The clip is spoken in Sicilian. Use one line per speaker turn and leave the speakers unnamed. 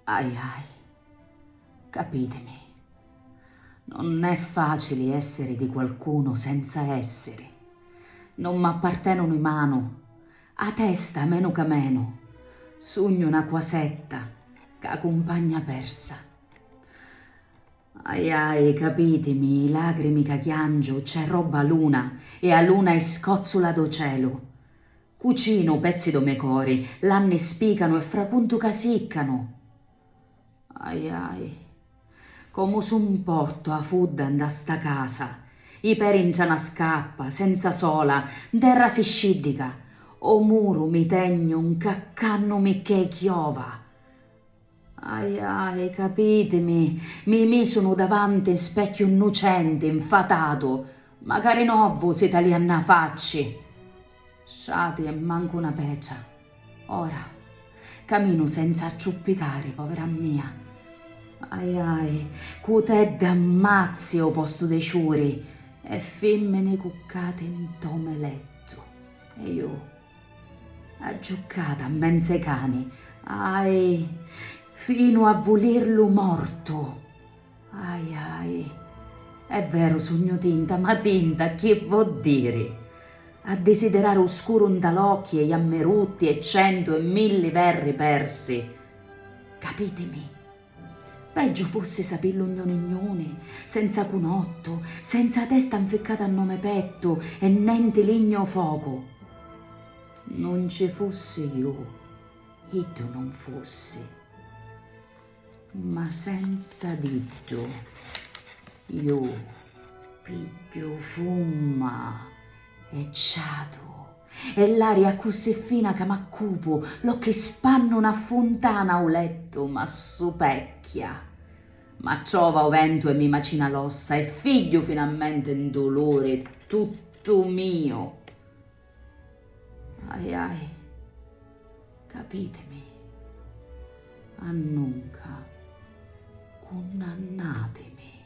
Ahi ahi. Capitimi. Non è facili essiri di qualcunu senza essiri. Non m'appartenunu i manu, 'a testa menu ca menu. Sugnu 'na quasetta, ca cumpagna persa. Ahi ahi, capitimi, i lacrimi ca chiangiu cc'è robba a luna e a luna è scozzula do celu. Cucinu pezzi do me cori, l'anni spicanu e fracuntu ca siccanu. Ahi ahi. Comu su mportu a fudda nda sta casa, i peri ntra na scappa, senza sola, nterra si sciddica, o muru mi tegnu ncaccannu micchè chiova. Ahi ahi, capitimi, mi misu nu davanti 'n specchiu nnucenti, 'nfatatu, macari novu si talia nna facci. Sciati e mancu na pecia. Ora, caminu senza acciuppicari, povera mia. Ahi ahi, cu tedda ammazzi o postu de ciuri e fimmini cuccati 'nto me lettu. E ju. A giucata 'mmenzu ai cani, ahi, finu a vulirlu mortu. Ahi, ahi. È veru, sugnu tinta, ma tinta chi vo' diri? A disidirari u scuru 'nta l'occhi e i ammerutti e centu e milli verri persi. Capitimi? Peggio fosse sapillo gnone gnone, senza cunotto, senza 'a testa 'nficcata nnò me petto e nenti ligna o foco. Nun ci fossi ju, iddu nun fossi. Ma senza d'iddu ju pigghiu fumma e ciatu. E l'aria accussì fina ca m'accupu, l'occhi spannu 'na funtana u lettu m'assupecchia. M'acciova u ventu e mi macina l'ossa e figghiu finalmente 'n duluri tuttu miu. Ahi ahi, capitimi, annunca, cunnannatimi.